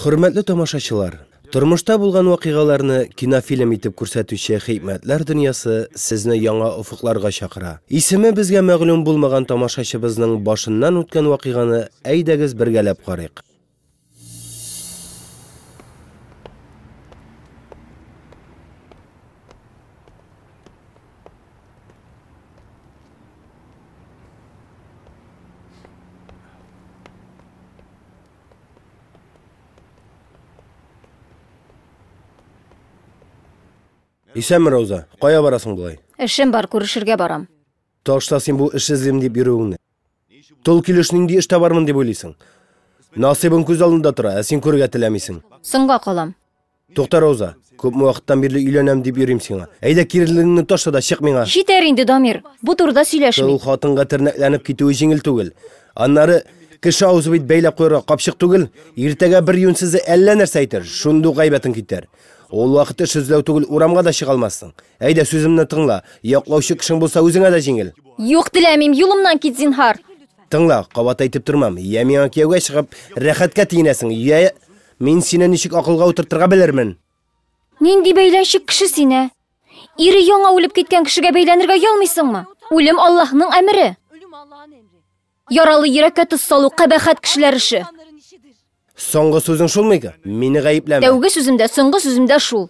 Хөрмәтле тамашачылар! Тормышта булган вакыйгаларны кинофильм итеп күрсәтүче Хикмәтләр дөньясы сезне яңа офыкларга чакыра. Исеме безгә мәгълүм булмаган тамашачыбызның башыннан үткән вакыйганы әйдәгез бергәләп карыйк. Исәнме, Рауза. Кая барасың болай? Эшем бар, күрешергә барам. Ташла син бу эш эзлим дип йөрүеңне. Тол килеш нинди эш табармын дип уйлыйсың? Насыйбың күз алдында тора, ә син күрергә теләмисең. Соңга калам. Тукта, Рауза, күпме вакыттан бирле өйләнәм дип йөрим сиңа. Әйдә, кирелегеңне ташла да чык миңа. Җитәр инде, Дамир, бу турыда сөйләшмик. Тол хатынга тернәкләнеп китүе җиңел түгел. Аннары, кеше авызы бит бәйләп куярга капчык түгел. Иртәгә бер юньсезе әллә нәрсә әйтер, шундый ук гайбәтең китәр. Ул вакыт эш эзләү түгел, урамга да чыга алмассың. Әйдә, сүземне тыңла. Яклаучы кешең булса, үзеңә дә җиңел. Юк, теләмим, юлымнан кит, зинһар. Тыңла, кабат әйтеп тормам. Йә миңа кияүгә чыгып, рәхәткә тиенәсең, йә... Мин сине ничек акылга утыртырга белермен? Нинди бәйләнчек кеше сине? Ире яңа үлеп киткән кешегә бәйләнергә ялмыйсыңмы? Үлем Аллаһның әмере. Яралы йөрәккә тоз салу кабәхәт кешеләр эше. Соңгы сүзең шулмы иде? Мине гаепләмә. Тәүге сүзем дә, соңгы сүзем дә шул.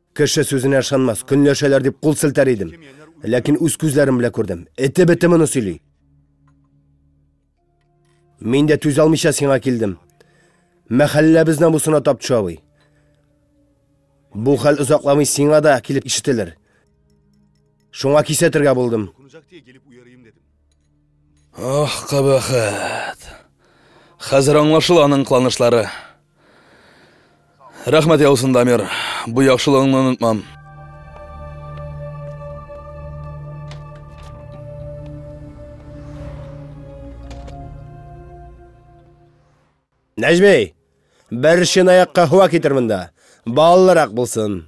Кеше сүзенә ышанмас, көнләшәләр дип кул селтәр идем. Ләкин үз күзләрем белән күрдем. Эте бете моны сөйли. Мин дә түзә алмыйча сиңа килдем. Мәхәлләбез намусына тап төшә абый. Бу хәл озакламый сиңа да килеп ишетелер. Шуңа кисәтергә булдым. Ох, кабахат. Хәзер аңлашыл аның кыланышлары. Рәхмәт яусын, Дамир. Бу яхшылыгыңны онытмам. Нәҗми! Бер чынаяк каһва китер монда. Баллырак булсын.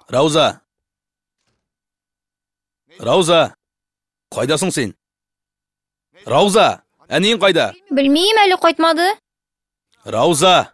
Рауза! Рауза! Кайдасың син? Рауза! Әниең кайда? Белмим әле кайтмады. Рауза!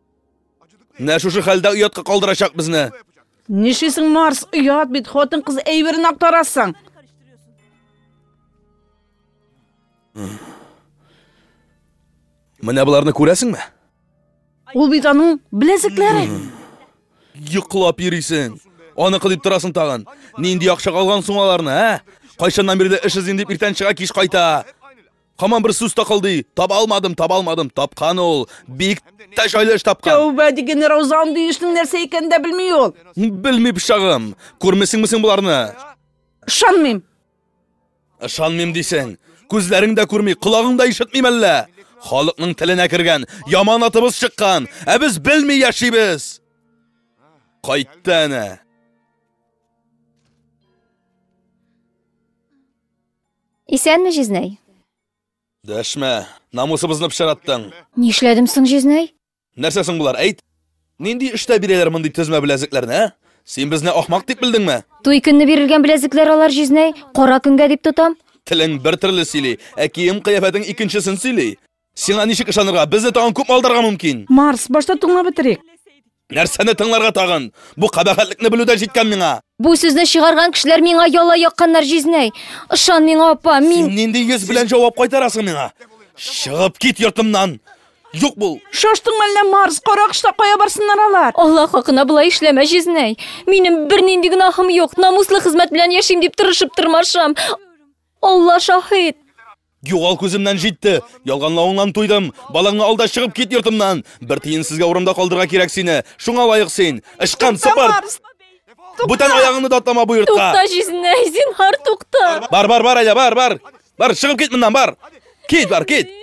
Менә шушы хәлдә оятка калдырачак безне. Нишлисең, Марс, оят бит, хатын-кыз әйберен актарасың. Менә боларны күрәсеңме? Ул бит аның беләзекләре. Йоклап йөрисең. Аны кылып торасың тагын. Нинди акча алган соң аларны, ә? Кайчаннан бирле эш эзлим дип иртән чыга кич кайта. Хаман бер сүз тақылдый. Таба алмадым, таба алмадым. Тапкан ул. Бик тә җайлы эш тапкан. Тәүбә диген Рауза андый эшнең нәрсә икәнен дә белми ул. Белми пычагым. Күрмисеңме син боларны? Ышанмыйм. Ышанмыйм дисең. Күзләрең дә күрми, колагың да ишетми мәллә. Халыкның теленә кергән, яман атыбыз чыккан, ә без белми яшибез. Кайтты әнә. Исәнме, Җизнәй? Дәшмә. Намусыбызны пычараттың. Нишләдем соң, Җизнәй? Нәрсә соң болар, әйт? Нинди эштә бирәләр мондый тезмә беләзекләрне, ә? Син безне ахмак дип белдеңме? Туй көнне бирелгән беләзекләр алар, Җизнәй. Кара көнгә дип тотам. Телең бер төрле сөйли, ә кием-кыяфәтең икенчесен сөйли. Сиңа ничек ышанырга? Безне тагын күп алдарга мөмкин. Марс, башта туңа бетерик. Нәрсәне тыңларга тагын? Бу кабахәтлекне белүдә җиткән миңа. Бу сүзне чыгарган кешеләр миңа яла якканнар җизнәй. Ышан миңа, апа, мин... Син нинди йөз белән җавап кайтарасың миңа? Чыгып кит йортымнан! Юк бул! Шаштың мәллә Марс, каракышта кая барсыннар алар? Аллах хакына болай эшләмә җизнәй. Минем бер нинди гөнаһым юк, намуслы хезмәт белән яшим дип тырышып тырмашам. Алла шаһит! Югал күземнән җитте. Ялганлавыңнан туйдым. Балаңны алда чыгып кит йортымнан. Бер тиен сезгә урында калдырга кирәк сине. Шуңа лаек син. Ычкан сыпырт! Бүтән аягыңны датлама бу йортка. Тукта җизнәй, зинһар тукта. Бар, бар, бар әле, бар, бар. Бар, чыгып кит моннан, бар. Кит, бар, кит.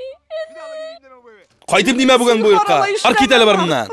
Кайтып димә бүген бу йортка. Бар кит әле бар моннан.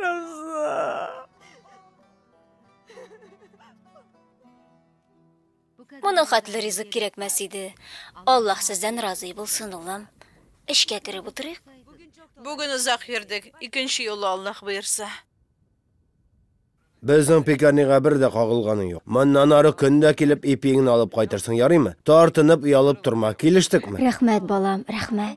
Роза. Моның хәтле ризык кирәкмәс иде. Аллаһ сездән разый булсын, улым. Эшкә кереп утырыйк. Бүген озак йөрдек. Икенче юлы Аллаһ боерса. Безнең пекарнига бер дә кагылганы юк. Моннан ары көн дә килеп ипиеңне алып кайтырсың, ярыймы? Тартынып, оялып торма. Килештекме? Рәхмәт, балам, рәхмәт.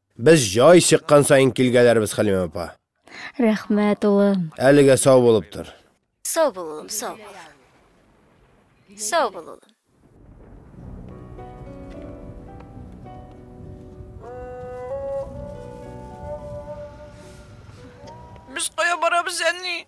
Без җай чыккан саен килгәләрбез, Хәлимә апа. Рәхмәт, улым. Әлегә сау булып тор. Сау бул, улым, сау бул. Сау бул, улым. Без кая барабыз, әни?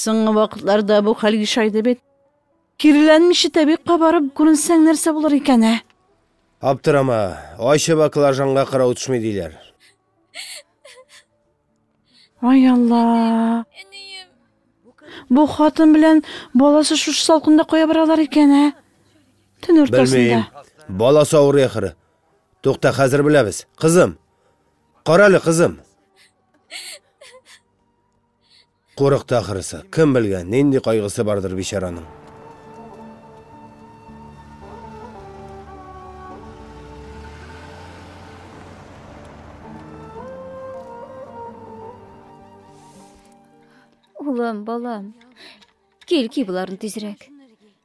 Соңгы вакытларда бу хәл ешайды бит. Киреләнмичә тәбик кабарып күренсәң нәрсә булыр икән, ә? Аптырама, ачы баклажанга кырау төшми диләр. Ай Алла. Бу хатын белән баласы шушы салкында кая баралар икән, ә? Төн уртасында. Белмим. Баласы авырый ахыры. Тукта, хәзер беләбез. Кызым. Карале, кызым. Курыкты ахрысы. Кем белгән, нинди кайгысы бардыр бичараның. Улым, балам, кил, ки боларны тизрәк.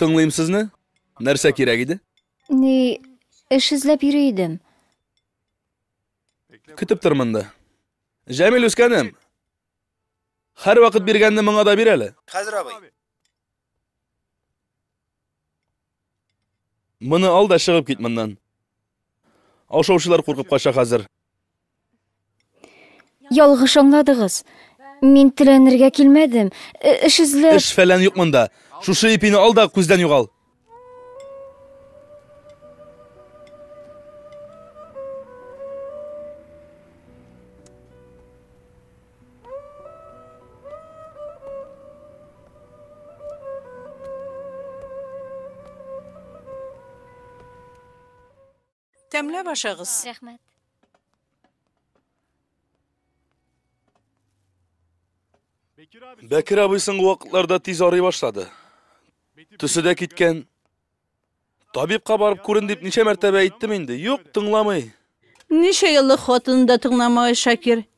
Тыңлыйм сезне. Нәрсә кирәк иде? Ни, эш эзләп йөри идем. Көтеп тормын да. Җәмил үскәнем. Хәр вакыт биргәнне моңа да бир әле. Хәзер абый. Моны ал да чыгып кит моннан. Ашаучылар куркып кача хәзер. Ялгыш аңладыгыз. Мин теләнергә килмәдем. Э, эш эзләп... Эш фәлән юк монда. Шушы ипине ал да күздән югал. Тәмләп ашагыз. Рәхмәт. Бәкер абый соңгы вакытларда тиз арый башлады. Төсе дә киткән. Табибка барып күрен дип ничә мәртәбә әйттем инде. Юк, тыңламый. Ничә еллык хатынын да тыңламагай Шакир.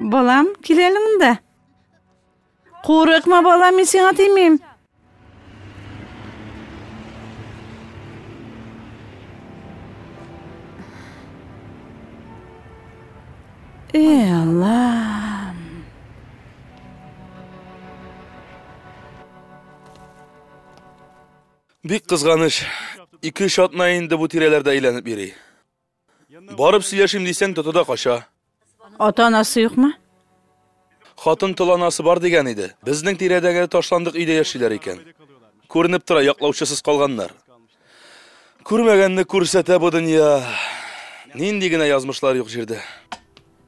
Балам, кил әле монда. Курыкма, балам, мин сиңа тимим. Эй, Аллам. Бик кызганыч, ике-өч атна инде бу тирәләрдә әйләнеп йөри. Барып сөйләшим дисәң, тоты да кача. Ата-анасы юкмы? Хатын тол анасы бар дигән иде. Безнең тирәдәге ташландык өйдә яшиләр икән. Күренеп тора, яклаучысыз калганнар. Күрмәгәнне күрсәтә бу дөнья. Нинди генә язмышлар юк җирдә.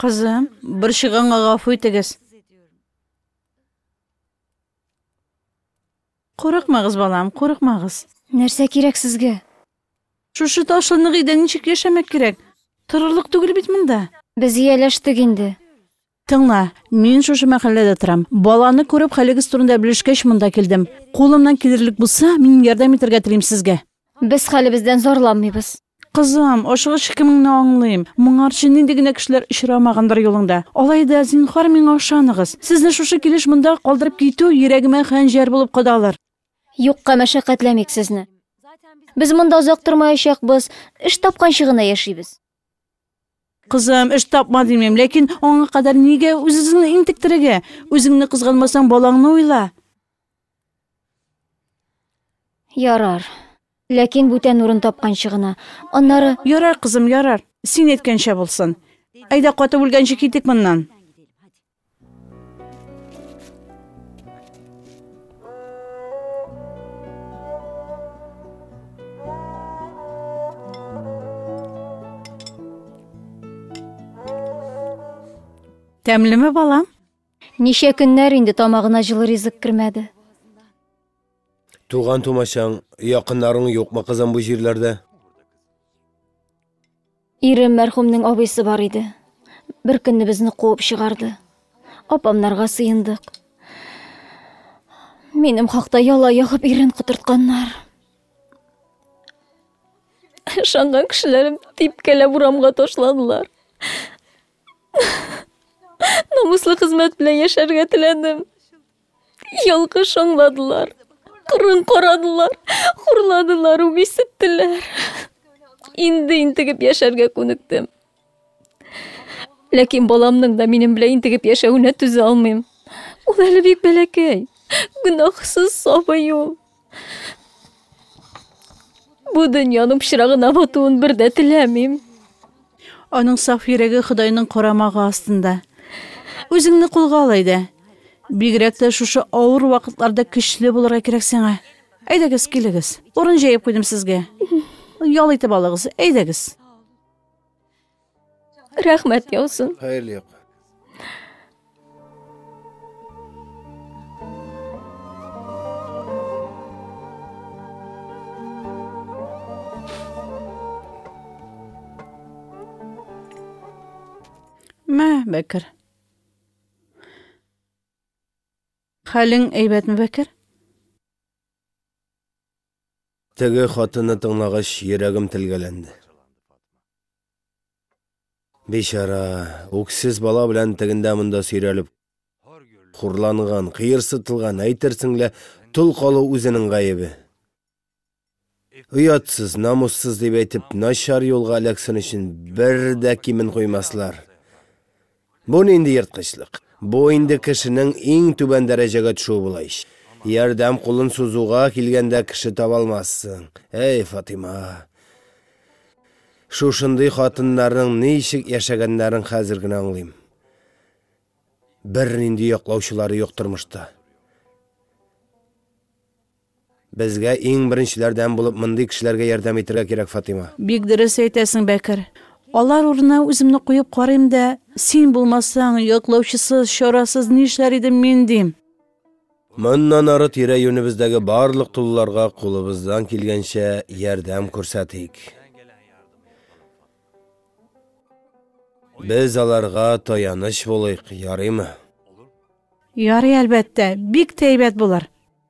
Кызым, борчыганга гафу итегез. Курыкмагыз, балам, курыкмагыз. Нәрсә кирәк сезгә? Шушы ташлынлык өйдә ничек яшәмәк кирәк? Торырлык түгел бит монда. Без ияләштек инде. Тыңла, мин шушы мәхәлләдә торам. Баланы күреп, хәлегез турында белешкәч, монда килдем. Кулымнан килерлек булса, мин ярдәм итәргә телим сезгә. Без хәлебездән зарланмыйбыз. Кызым, ашыгыч икемеңне аңлыйм. Моңарчы нинди генә кешеләр очрамагандыр юлыңда. Алай да, зинһар, миңа ышаныгыз. Сезне шушы килеш монда калдырып китү йөрәгемә хәнҗәр булып кадалыр. Юкка мәшәкатьләмик сезне. Без монда озак тормаячакбыз, эш тапканчы гына яшибез. Кызым, эш тапма димим, ләкин аңа кадәр нигә үзезеңне интектерергә? Үзеңне кызганмасаң, балаңны уйла. Ярар. Ләкин бүтән урын тапканчы гына. Аннары... Ярар, кызым, ярар. Син әйткәнчә булсын. Әйдә, катып үлгәнче китик моннан. Тәмлеме, балам? Ничә көннәр инде тамагына җылы ризык кермәде. Туган тумачаң, якыннарың юкмы, кызым, бу җирләрдә? Ирем мәрхүмнең абыйсы бар иде. Бер көнне безне куып чыгарды. Апамнарга сыендык. Минем хакта яла ягып ирен котыртканнар. Ышанган кешеләрем типкәләп урамга ташладылар. Намуслы хезмәт белән яшәргә теләдем. Ялгыш аңладылар. Кырын карадылар, хурладылар, үгисеттеләр. Инде интегеп яшәргә күнектем. Ләкин баламның да минем белән интегеп яшәвенә түзә алмыйм. Ул әле бик бәләкәй. Гөнаһсыз сабый ул. Бу дөньяның пычрагына батуын бер дә теләмим. Аның саф йөрәге Ходайның карамагы астында. Үзеңне кулга ал әйдә. Бигрәк тә шушы авыр вакытларда көчле булырга кирәк сиңа. Әйдәгез, килегез. Урын җәеп куйдым сезгә. Ял итеп алыгыз. Әйдәгез. рәхмәт яусын хәерле як Мә, Бәкер. Хәлең әйбәтме, Бәкер? Теге хатынны тыңлагач, йөрәгем телгәләнде. Бичара, үксез бала белән тегендә-монда сөйрәлеп хурланган, кыерсытылган, әйтерсең лә, тол калу үзенең гаебе. Оятсыз, намуссыз дип әйтеп, начар юлга эләксен өчен бер дә кимен куймаслар. Бу нинди ерткычлык? Бу инде кешенең иң түбән дәрәҗәгә төшүе була ич. Ярдәм кулын сузуга килгәндә кеше таба алмассың. Әй, Фатыйма! Шушындый хатыннарның ничек яшәгәннәрен хәзер генә аңлыйм. Бернинди яклаучылары юк тормышта. Безгә иң беренчеләрдән булып мондый кешеләргә ярдәм итергә кирәк, Фатыйма. Бик дөрес әйтәсең, Бәкер. Алар урынына үземне куеп карыйм да, син булмасаң, яклаучысыз, чарасыз нишләр идем мин, дим. Моннан ары тирә-юнебездәге барлык тулыларга кулыбыздан килгәнчә ярдәм күрсәтик. Без аларга таяныч булыйк, ярыймы? Ярый, әлбәттә. Бик тә әйбәт булыр.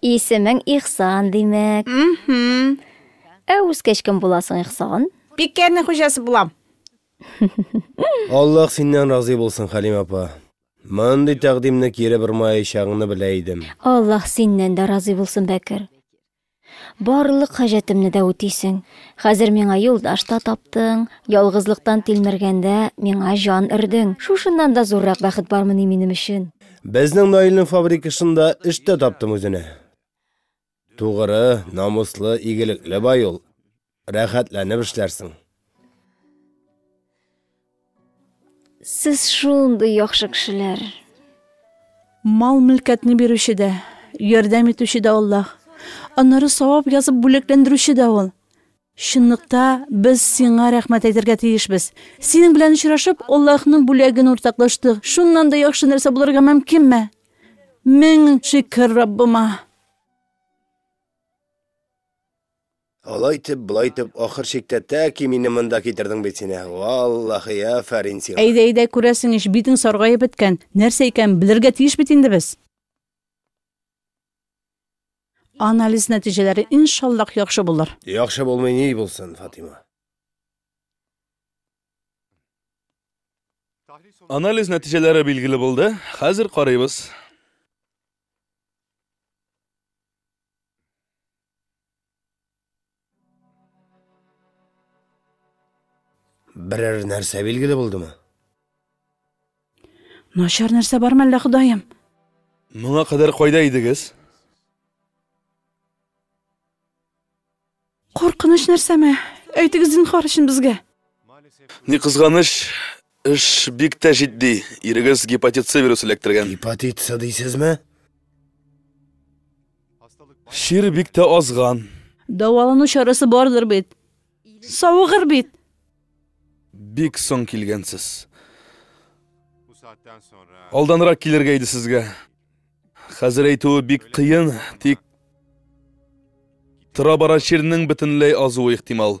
Исемең Ихсан, димәк. Мхм. Ә үскәч кем буласың, Ихсан? Пиккәрнең хуҗасы булам. Аллаһ синнән разый булсын, Хәлим апа. Мондый тәкъдимне кире бормаячагыңны белә идем. Аллаһ синнән дә разый булсын, Бәкер. Барлык хаҗәтемне дә үтисең. Хәзер миңа юлдаш та таптың, ялгызлыктан тилмергәндә, миңа җан өрдең. Шушыннан да зуррак бәхет бармыни минем өчен? Безнең Наилнең фабрикасында эш тә таптым үзенә. Тугры, намуслы, игелекле бай ул. Рәхәтләнеп эшләрсең. Сез шундый яхшы кешеләр. Мал-мөлкәтне бирүче дә, ярдәм итүче дә Аллаһ. Аннары савап язып бүләкләндерүче дә Ул. Чынлыкта, без Сиңа рәхмәт әйтергә тиешбез. Синең белән очрашып, Аллаһның бүләген уртаклаштык. Шуннан да яхшы нәрсә булырга мөмкинме? Мең шөкер Раббыма! Алай итеп, болай итеп, ахыр чиктә тәки мине монда китердең бит син, ә! Валлаһи, афәрин сиңа! Әйдә, әйдә, күрәсең ич, битең саргаеп беткән. Нәрсә икәнен белергә тиеш бит инде без! Анализ нәтиҗәләре, иншаллаһ, яхшы булыр. Яхшы булмый ни булсын, Фатыйма? Анализ нәтиҗәләре билгеле булды, хәзер карыйбыз. Берәр нәрсә билгеле булдымы? Начар нәрсә бармы әллә, Ходаем? Моңа кадәр кайда идегез? Куркыныч нәрсәме? Әйтегез зинхар өчен безгә. Ни кызганыч, эш бик тә җитди. Ирегез гепатит С вирусы эләктергән. Гепатит С дисезме? Чир бик тә азган. Дәвалану чарасы бардыр бит. Савыгыр бит. Бик соң килгәнсез. Алданрак килергә иде сезгә. Хәзер әйтүе бик кыен, тик тора-бара чирнең бөтенләй азуы ихтимал.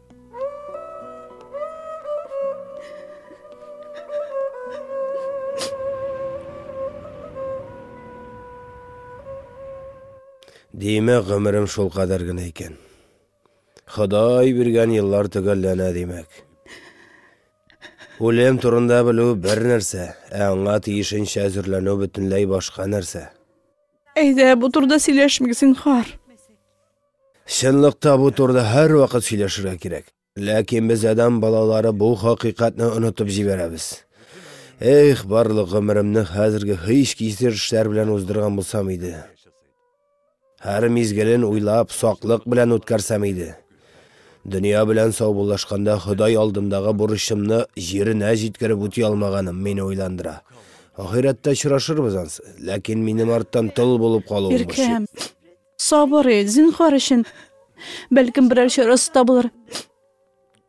Димә, гомерем шул кадәр генә икән. Ходай биргән еллар төгәлләнә димәк. Үлем турында белү бер нәрсә, ә аңа тиешенчә әзерләнү бөтенләй башка нәрсә. Әйдә, бу турда сөйләшмик, зинхар. Чынлыкта бу турыда һәрвакыт сөйләшергә кирәк. Ләкин без адәм балалары бу хакыйкатьне онытып җибәрәбез. Эх, барлык гомеремне хәзерге һич кисер эшләр белән уздырган булсам иде. Һәр мизгелен уйлап, саклык белән үткәрсәм иде. Дөнья белән саубуллашканда Ходай алдындагы бурычымны җиренә җиткереп үти алмаганым мине уйландыра. Ахирәттә очрашырбыз ансы, ләкин минем арттан тол булып калуым борчый. Сабыр ит, зинһар өчен. Бәлкем, берәр чарасы табылыр.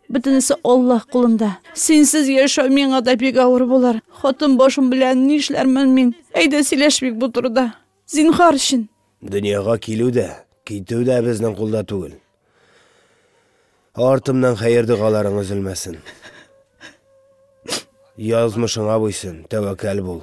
Бөтенесе Аллаһ кулында. Синсез яшәү миңа да бик авыр булыр. Хатын башым белән нишләрмен мин? Әйдә сөйләшмик бу турыда. Зинһар өчен. Дөньяга килү дә, китү дә безнең кулда түгел. Артымнан хәер догаларың өзелмәсен. Язмышыңа буйсын, тәвәккәл бул.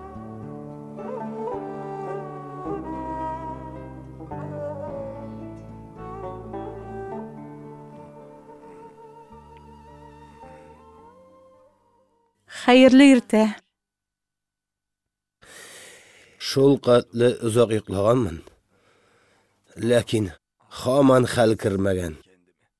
Хәерле иртә. Шул катлы озак йоклаганмын. Ләкин хаман хәл кермәгән.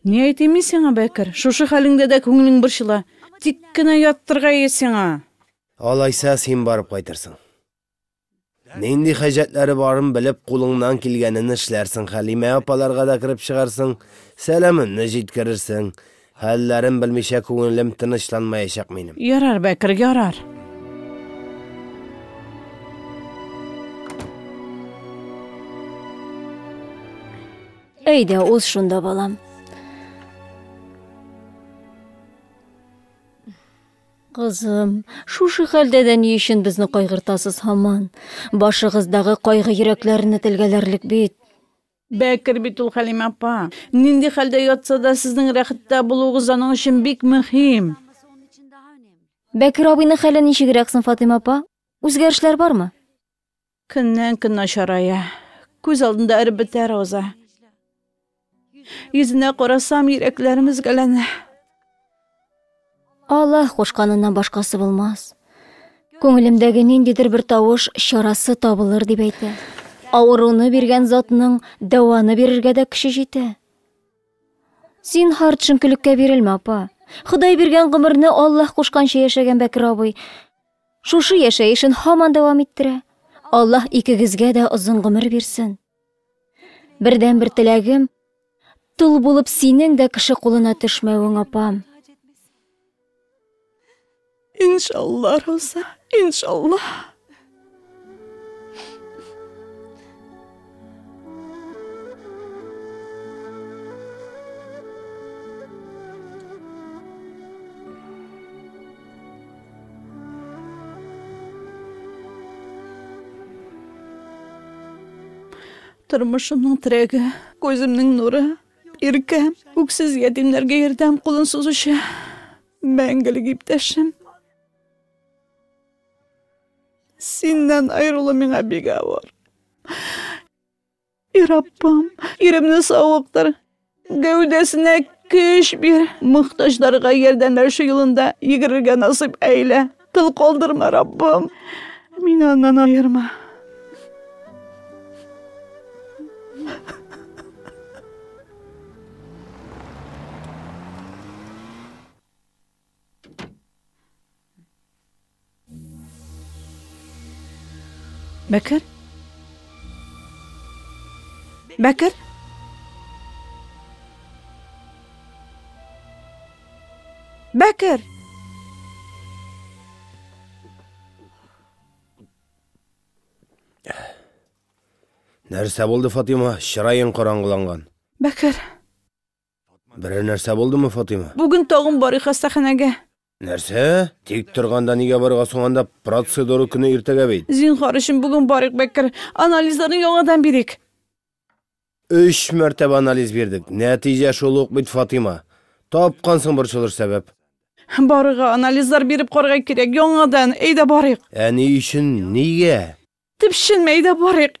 Ни әйтим мин сиңа, Бәкер, шушы хәлеңдә дә күңелең борчыла. Тик кенә яттырга ие сиңа! Алайса, син барып кайтырсың. Нинди хаҗәтләре барын белеп, кулыңнан килгәнен эшләрсең, Хәлимә апаларга да кереп чыгарсың, сәламемне җиткерерсең. Хәлләрен белмичә күңелем тынычланмаячак минем. Ярар, Бәкер, ярар. Әйдә, уз шунда, балам. Кызым, шушы хәлдә дә ни өчен безне кайгыртасыз һаман? Башыгыздагы кайгы йөрәкләрне телгәләрлек бит. Бәкер бит ул Хәлимә апа. Нинди хәлдә ятса да, сезнең рәхәттә булуыгыз аның өчен бик мөһим. Бәкер абыйның хәле ничегрәк соң, Фатыйма апа? Үзгәрешләр бармы? Көннән-көн начарая. Күз алдында эреп бетә Рауза. Йөзенә карасам, йөрәкләрем өзгәләнә. Аллаһ кушканыннан башкасы булмас. Күңелемдәге ниндидер бер тавыш чарасы табылыр дип әйтә. Авыруны биргән затның дәваны бирергә дә көче җитә. Зинһар төшенкелеккә бирелмә, апа. Ходай биргән гомерне Аллаһ кушканча яшәгән Бәкер абый. Шушы яшәешен һаман дәвам иттерә. Аллаһ икегезгә дә озын гомер бирсен. Бердән бер теләгем, тол булып синең дә кеше кулына төшмәвең, апам. Иншалла, Роза, иншалла. Тормышымның терәге, күземнең нуры, иркә, үксез ятимнәргә ярдәм кулын сузучы, мәңгелек иптәшем. Синнән аерылу миңа бик авыр. И Раббым, иремне савыктыр, гәүдәсенә көч бир, мөхтаҗларга ярдәмләшү юлында йөгерергә насыйп әйлә. Тыл калдырма, Раббым, мине аннан аерма. Бәкер? Бәкер? Бәкер! Нәрсә булды, Фатима? Чыраең караңгыланган. Бәкер! Берәр нәрсә булдымы, Фатыйма? Бүген тагын барыйк хастаханәгә. Нәрсә? Тик торганда нигә барырга соң анда? Процедура көне иртәгә бит. Зинхар өчен бүген барыйк, Бәкер. Анализларны яңадан бирик. Өч мәртәбә анализ бирдек. Нәтиҗә шул ук бит, Фатыйма. Тапкансың борчылыр сәбәп. Барырга, анализлар биреп карарга кирәк, яңадан. Әйдә барыйк. Ә ни өчен? Нигә? Төпченмә, әйдә барыйк.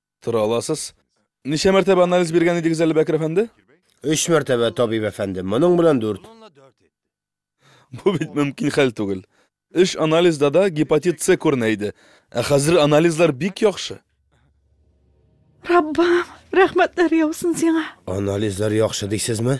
Тора аласыз. Ничә мәртәбә анализ биргән идегез әле, Бәкер әфәнде? Өч мәртәбә, табиб әфәнде. Моның белән дүрт. Бу бит мөмкин хәл түгел. Өч анализда да гепатит С күренә иде. Ә хәзер анализлар бик яхшы. Раббым, рәхмәтләр яусын сиңа. Анализлар яхшы дисезме?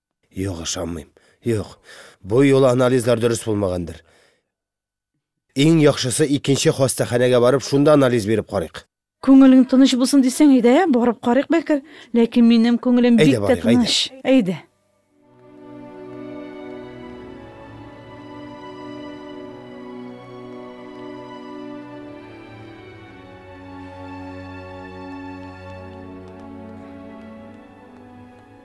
Юк, ышанмыйм. Юк. Бу юлы анализлар дөрес булмагандыр. Иң яхшысы икенче хастаханәгә барып, шунда анализ биреп карыйк. Күңелең тыныч булсын дисәң, әйдә, барып карыйк, Бәкер. Ләкин минем күңелем бик тә барыйк, әйдә. тыныч. Әйдә.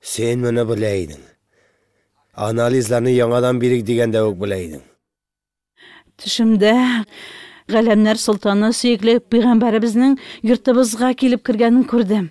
Син моны белә идең. Анализларны яңадан бирик дигәндә үк белә идең. Төшемдә Галәмнәр солтаны сөекле пәйгамбәребезнең йортыбызга килеп кергәнен күрдем.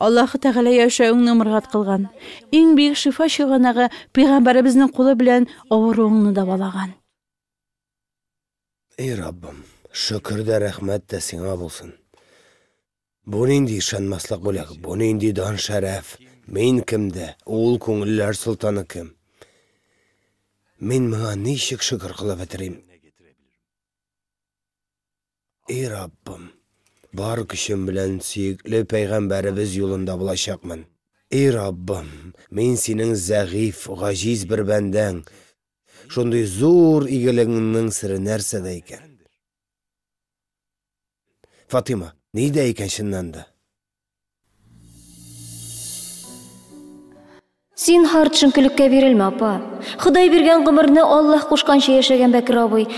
Аллаһы Тәгалә яшәвеңне мөргат кылган. Иң бөек шифа чыганагы пәйгамбәребезнең кулы белән авыруыңны дәвалаган. Эй Раббым, шөкер дә, рәхмәт тә сиңа булсын. Бу нинди ышанмаслык бүләк, бу нинди дан-шәрәф? Мин кем дә, ул күңелләр солтаны кем? Мин моңа ничек шөкер кылып бетерим? И Раббым, бар көчем белән сөекле пәйгамбәребез юлында булачакмын. И Раббым, мин синең зәгыйфь, гаҗиз бер бәндәң. Шундый зур игелегеңнең сере нәрсәдә икән? Фатыйма, ни дә икән чыннан да? Зинһар, төшенкелеккә бирелмә, апа. Ходай биргән гомерне Аллаһ кушканча яшәгән Бәкер абый.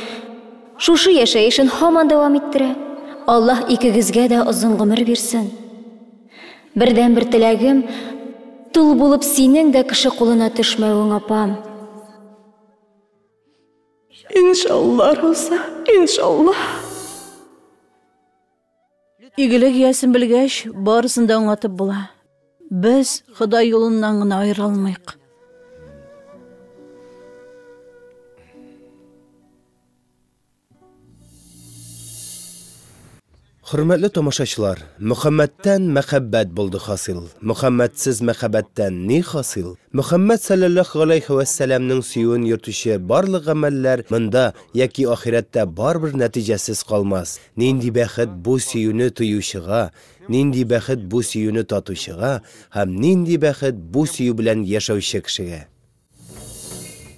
Шушы яшәешен һаман дәвам иттерә. Аллаһ икегезгә дә озын гомер бирсен. Бердәнбер теләгем, тол булып синең дә кеше кулына төшмәвең, апам. Иншалла, Роза, иншалла. Игелек иясен белгәч, барысын да аңлатып була. Без Ходай юлыннан гына аерыла алмыйк. Хөрмәтле тамашачылар, Мөхәммәттән мәхәббәт булды хасил, Мөхәммәтсез мәхәббәттән ни хасил? Мөхәммәт салләллаһу галәйһи вә сәләмнең сөюен йөртүче барлык гамәлләр монда яки ахирәттә барыбер нәтиҗәсез калмас. Нинди бәхет бу сөюне тоючыга, нинди бәхет бу сөюне татучыга һәм нинди бәхет бу сөю белән яшәүче кешегә!